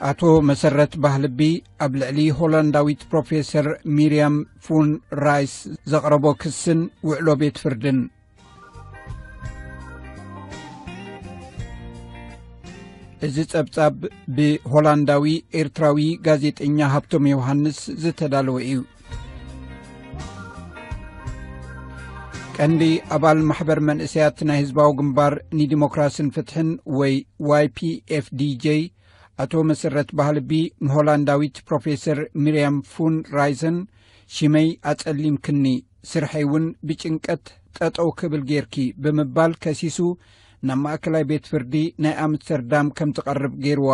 ኣቶ መሰረት ባህልቢ ኣብ ልዕሊ ሆላንዳዊት ፕሮፌሰር ሚርያም ፉን ራይስ ዘቕረቦ ክስን ውዕሎ ቤት ፍርድን እዚ ጸብጻብ ብሆላንዳዊ ኤርትራዊ ጋዜጠኛ ሃብቶም ዮውሃንስ ዝተዳለወ እዩ ቀንዲ ኣባል ማሕበር መንእሰያት ናይ ህዝባዊ ግንባር ንዲሞክራስን ፍትሕን ወይ ዋይ ፒ ኤፍ ዲj ኣቶ መሰረት ባህልቢ ንሆላንዳዊት ፕሮፌሰር ሚርያም ፉን ራይሰን ሽመይ ኣጸሊምክኒ ስርሐይ እውን ብጭንቀት ጠጠው ክብል ጌይርኪ ብምባል ከሲሱ ናብ ማእከላይ ቤት ፍርዲ ናይ ኣምስተርዳም ከም ትቐርብ ገይርዋ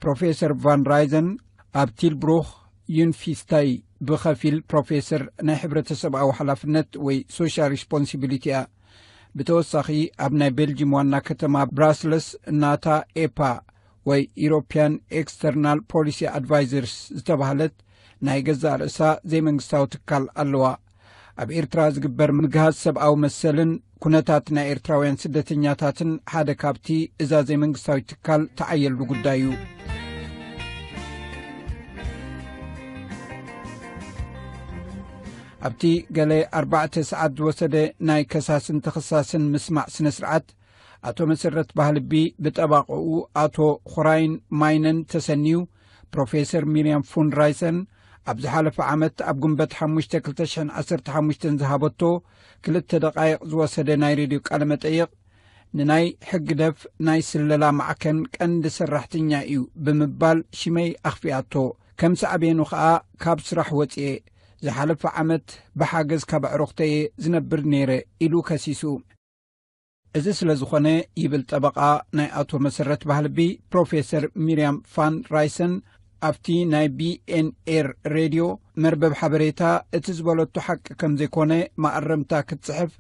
ፕሮፌሰር ቫን ራይዘን ኣብ ቲልብሩክ ዩንፊስታይ ብኸፊል ፕሮፌሰር ናይ ሕብረተሰብኣዊ ሓላፍነት ወይ ሶሻል ሪስፖንሲቢሊቲ እያ ብተወሳኺ ኣብ ናይ ቤልጂም ዋና ከተማ ብራስለስ እናታ ኤፓ ወይ ኢሮፒያን ኤክስተርናል ፖሊሲ ኣድቫይዘርስ ዝተባህለት ናይ ገዛእ ርእሳ ዘይመንግስታዊ ትካል ኣለዋ ኣብ ኤርትራ ዝግበር ምግሃስ ሰብኣዊ መሰልን ኩነታት ናይ ኤርትራውያን ስደተኛታትን ሓደ ካብቲ እዛ ዘይመንግስታዊት ትካል ተዓየሉ ጉዳይ እዩ ኣብቲ ገለ ኣርባዕተ ሰዓት ዝወሰደ ናይ ከሳስን ተኸሳስን ምስማዕ ስነ ስርዓት ኣቶ መሰረት ባህልቢ ብጠባቐኡ ኣቶ ኹራይን ማይነን ተሰኒዩ ፕሮፌሰር ሚርያም ፉን ራይሰን ኣብ ዝሓለፈ ዓመት ኣብ ጉንበት ሓሙሽተ 215 ዝሃበቶ ክልተ ደቃይቕ ዝወሰደ ናይ ሬድዮ ቃለ መጠይቕ ንናይ ሕግደፍ ናይ ስለላ ማዕከን ቀንዲ ሰራሕተኛ እዩ ብምባል ሽመይ ኣኽፊኣቶ ከም ሳዕቤኑ ኸኣ ካብ ስራሕ ወፅኤ ዝሓለፈ ዓመት ብሓገዝ ካብ ኣዕሩኽተየ ዝነብር ነይረ ኢሉ ከሲሱ እዚ ስለ ዝኾነ ይብል ጠበቓ ናይ ኣቶ መሰረት ባህልቢ ፕሮፌሰር ሚርያም ፋን ራይሰን ኣብቲ ናይ ቢኤንኤር ሬድዮ መርበብ ሓበሬታ እቲ ዝበለቶ ሓቂ ከም ዘይኮነ ማእረምታ ክትፅሕፍ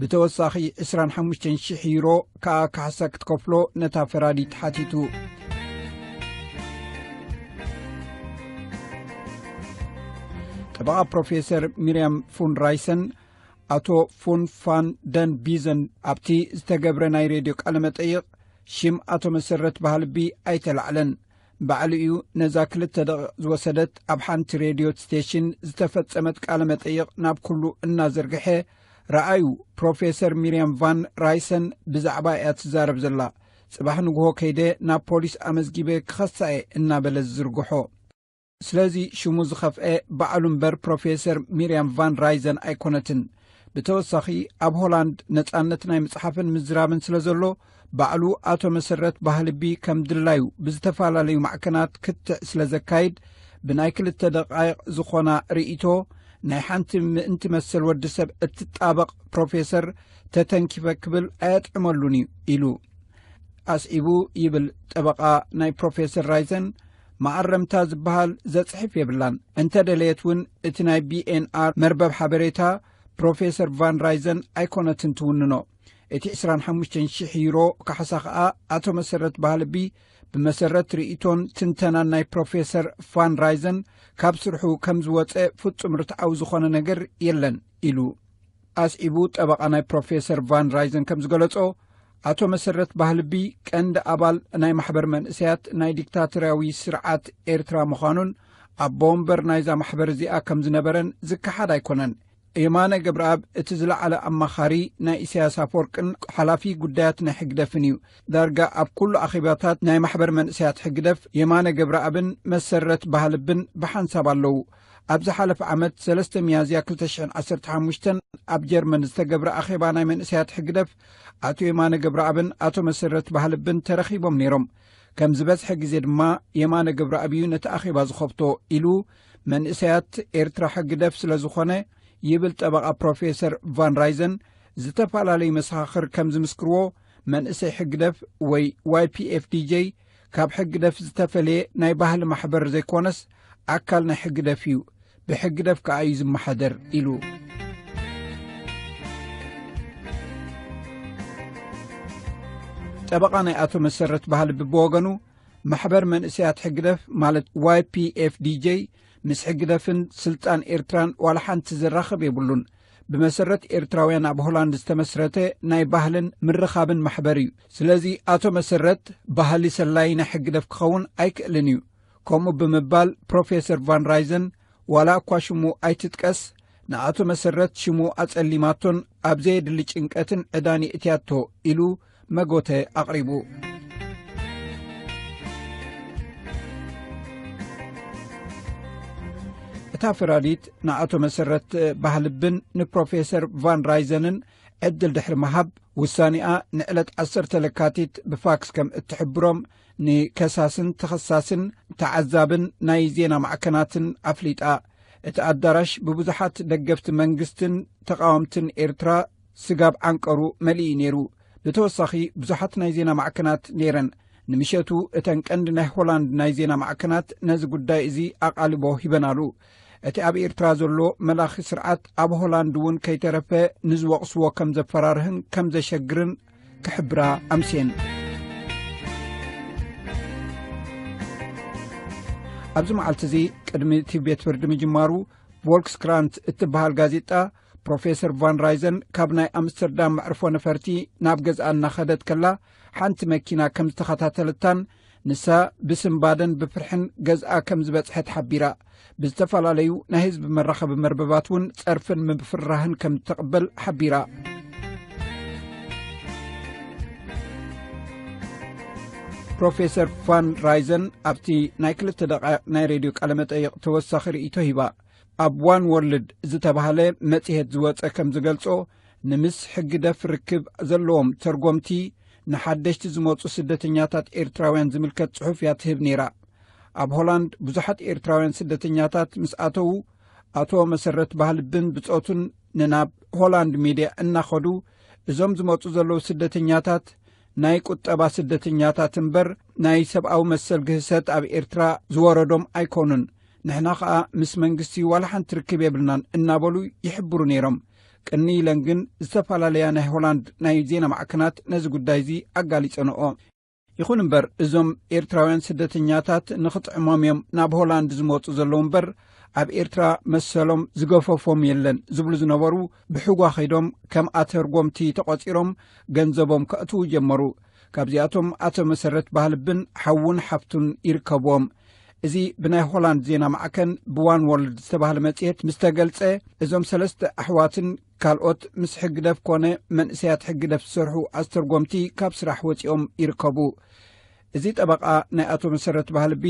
ብተወሳኺ 2ራሓሙሽተ00 ዩሮ ከኣ ካሕሳ ክትከፍሎ ነታ ፈራዲ ተሓቲቱ ጠበቓ ፕሮፌሰር ሚርያም ፉን ራይሰን ኣቶ ፉንፋን ደን ቢዘን ኣብቲ ዝተገብረ ናይ ሬድዮ ቃለ መጠይቕ ሽም ኣቶ መሰረት ባህልቢ ኣይተላዕለን ባዕሉ እዩ ነዛ ክልተ ደቂቕ ዝወሰደት ኣብ ሓንቲ ሬድዮ ስቴሽን ዝተፈጸመት ቃለ መጠይቕ ናብ ኩሉ እናዘርግሐ ረኣዩ ፕሮፌሰር ሚርያም ቫን ራይሰን ብዛዕባ እያ ትዛረብ ዘላ ጽባሕ ንግሆ ከይደ ናብ ፖሊስ ኣመዝጊበ ክኸሳኤ እናበለ ዝዝርግሖ ስለዚ ሽሙ ዝኸፍኤ ባዕሉ እምበር ፕሮፌሰር ሚርያም ቫን ራይዘን ኣይኮነትን ብተወሳኺ ኣብ ሆላንድ ነጻነት ናይ ምጽሓፍን ምዝራብን ስለ ዘሎ ባዕሉ ኣቶ መሰረት ባህልቢ ከም ድላዩ ብዝተፈላለዩ ማዕከናት ክትዕ ስለ ዘካይድ ብናይ ክልተ ደቃይቕ ዝኾና ርእቶ ናይ ሓንቲ ምእንቲ መሰል ወዲ ሰብ እትጣበቕ ፕሮፌሰር ተተንኪፈ ክብል ኣየጥዕመሉን እዩ ኢሉ ኣስዒቡ ይብል ጠበቓ ናይ ፕሮፌሰር ራይዘን መኣረምታ ዝበሃል ዘጽሕፍ የብላን። እንተ ደለየት እውን እቲ ናይ ቢኤንኣር መርበብ ሓበሬታ ፕሮፌሰር ቫን ራይዘን ኣይኮነትን ትውንኖ። እቲ ዕስራን ሓሙሽተን ሽሕ ዩሮ ካሕሳ ከኣ ኣቶ መሰረት ባህልቢ ብመሰረት ርእይቶን ትንተናን ናይ ፕሮፌሰር ቫን ራይዘን ካብ ስርሑ ከም ዝወጸ ፍጹም ርትዓዊ ዝኾነ ነገር የለን ኢሉ። ኣስዒቡ ጠበቓ ናይ ፕሮፌሰር ቫን ራይዘን ከም ዝገለጾ ኣቶ መሰረት ባህልቢ ቀንዲ ኣባል ናይ ማሕበር መንእሰያት ናይ ዲክታቶርያዊ ስርዓት ኤርትራ ምዃኑን ኣቦ ወንበር ናይዛ ማሕበር እዚኣ ከም ዝነበረን ዝከሓድ ኣይኮነን የማነ ገብረኣብ እቲ ዝለዓለ ኣማኻሪ ናይ ኢሳያስ ኣፈወርቅን ሓላፊ ጉዳያት ናይ ሕግደፍን እዩ ዳርጋ ኣብ ኩሉ ኣኼባታት ናይ ማሕበር መንእሰያት ሕግደፍ የማነ ገብረኣብን መሰረት ባህልብን ብሓንሳብ ኣለዉ ኣብ ዝሓለፈ ዓመት ሰለስተ ሚያዝያ 215 ኣብ ጀርመን ዝተገብረ ኣኼባ ናይ መንእሰያት ሕግደፍ ኣቶ የማነ ገብረኣብን ኣቶ መሰረት ባህልብን ተረኺቦም ነይሮም ከም ዝበዝሐ ግዜ ድማ የማነ ገብረኣብ እዩ ነቲ ኣኼባ ዝኸብቶ ኢሉ መንእሰያት ኤርትራ ሕግደፍ ስለ ዝኾነ ይብል ጠበቓ ፕሮፌሰር ቫን ራይዘን ዝተፈላለዩ መሰኻኽር ከም ዝምስክርዎ መንእሰይ ሕግደፍ ወይ ዋይፒኤፍዲj ካብ ሕግደፍ ዝተፈለየ ናይ ባህሊ ማሕበር ዘይኮነስ ኣካል ናይ ሕግደፍ እዩ ብሕግደፍ ከኣ እዩ ዝመሓደር ኢሉ ጠበቓ ናይ ኣቶ መሰረት ባህሊ ብብወገኑ ማሕበር መንእሰያት ሕግደፍ ማለት ዋይ ፒኤፍ ዲj ምስ ሕግደፍን ስልጣን ኤርትራን ዋላ ሓንቲ ዝራኸብ የብሉን ብመሰረት ኤርትራውያን ኣብ ሆላንድ ዝተመስረተ ናይ ባህልን ምርኻብን ማሕበር እዩ ስለዚ ኣቶ መሰረት ባህሊ ሰላይ ናይ ሕግደፍ ክኸውን ኣይክእልን እዩ ከምኡ ብምባል ፕሮፌሰር ቫን ራይዘን ዋላ እኳ ሽሙ ኣይትጥቀስ ንኣቶ መሰረት ሽሙ ኣጸሊማቶን ኣብ ዘየድሊ ጭንቀትን ዕዳን የእትያቶ ኢሉ መጎተ ኣቕሪቡ እታ ፈራዲት ንኣቶ መሰረት ባህልብን ንፕሮፌሰር ቫን ራይዘንን ዕድል ድሕሪ መሃብ ውሳኒኣ ንዕለት ዓሰርተ ለካቲት ብፋክስ ከም እትሕብሮም ንከሳስን ተኸሳስን ተዓዛብን ናይ ዜና ማዕከናትን ኣፍሊጣ። እቲ ኣዳራሽ ብብዙሓት ደገፍቲ መንግስትን ተቓወምትን ኤርትራ ስጋብ ዓንቀሩ መሊኡ ነይሩ። ብተወሳኺ ብዙሓት ናይ ዜና ማዕከናት ነይረን። ንምሸቱ እተን ቀንዲ ናይ ሆላንድ ናይ ዜና ማዕከናት ነዚ ጉዳይ እዚ ኣቓልቦ ሂበናሉ። እቲ ኣብ ኤርትራ ዘሎ መላኺ ስርዓት ኣብ ሆላንድ እውን ከይተረፈ ንዝወቕስዎ ከም ዘፈራርህን ከም ዘሸግርን ክሕብራ ኣምስን ኣብዚ መዓልቲ እዚ ቅድሚ እቲ ቤት ፍርዲ ምጅማሩ ቮልክስ ክራንት እትበሃል ጋዜጣ ፕሮፌሰር ቫን ራይዘን ካብ ናይ ኣምስተርዳም መዕርፎ ነፈርቲ ናብ ገዛኣ እናኸደት ከላ ሓንቲ መኪና ከም ዝተኸታተለታን ንሳ ብስምባደን ብፍርሕን ገዝኣ ከም ዝበጽሐት ሓቢራ ብዝተፈላለዩ ናይ ህዝቢ መራኸቢ መርበባት እውን ጸርፍን ምፍራህን ከም እተቕበል ሓቢራ ፕሮፌሰር ፋን ራይዘን ኣብቲ ናይ ክልተ ደቃይቅ ናይ ሬድዮ ቃለ መጠይቅ ተወሳኺ ርእቶ ሂባ ኣብ ዋን ወርልድ ዝተባሃለ መጽሄት ዝወፀ ከም ዝገልፆ ንምስ ሕግደፍ ርክብ ዘለዎም ተርጎምቲ ንሓደሽቲ ዝመፁ ስደተኛታት ኤርትራውያን ዝምልከት ፅሑፍ እያ ትህብ ነይራ ኣብ ሆላንድ ብዙሓት ኤርትራውያን ስደተኛታት ምስ ኣተዉ ኣቶ መሰረት ባህልብን ብፆቱን ንናብ ሆላንድ ሚድያ እናኸዱ እዞም ዝመፁ ዘለዉ ስደተኛታት ናይ ቁጠባ ስደተኛታት እምበር ናይ ሰብኣዊ መሰል ግህሰት ኣብ ኤርትራ ዝወረዶም ኣይኮኑን ንሕና ኸዓ ምስ መንግስቲ ዋላ ሓንቲ ርክብ የብልናን እናበሉ ይሕብሩ ነይሮም ቅንይ ኢለን ግን ዝተፈላለያ ናይ ሆላንድ ናይ ዜና ማዕከናት ነዚ ጉዳይ እዚ ኣጋሊጸንኦ ይኹን እምበር እዞም ኤርትራውያን ስደተኛታት ንኽጥዕሞም እዮም ናብ ሆላንድ ዝመፁ ዘለዉ እምበር ኣብ ኤርትራ መሰሎም ዝገፈፎም የለን ዝብሉ ዝነበሩ ብሕጓ ኸይዶም ከም ኣተርጎምቲ ተቖፂሮም ገንዘቦም ከእትዉ ጀመሩ ካብዚኣቶም ኣቶ መሰረት ባህልብን ሓውን ሓፍቱን ይርከብዎም እዚ ብናይ ሆላንድ ዜና ማዕከን ብዋን ዎርልድ ዝተባህለ መጽሔት ምስ ተገልጸ እዞም ሰለስተ ኣሕዋትን ካልኦት ምስ ሕግደፍ ኮነ መንእሰያት ሕግደፍ ዝሰርሑ ኣስተርጎምቲ ካብ ስራሕ ወፂኦም ይርከቡ እዚ ጠበቃ ናይ ኣቶ መሰረት ባህልቢ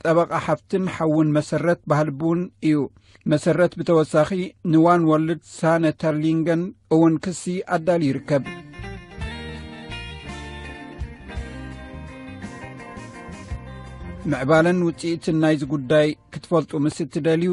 ጠበቓ ሓፍትን ሓውን መሰረት ባህልብውን እዩ መሰረት ብተወሳኺ ንዋን ወልድ ሳነ ተርሊንገን እውን ክሲ ኣዳል ይርከብ ምዕባለን ውፅኢትን ናይዚ ጉዳይ ክትፈልጡ ምስ እትደልዩ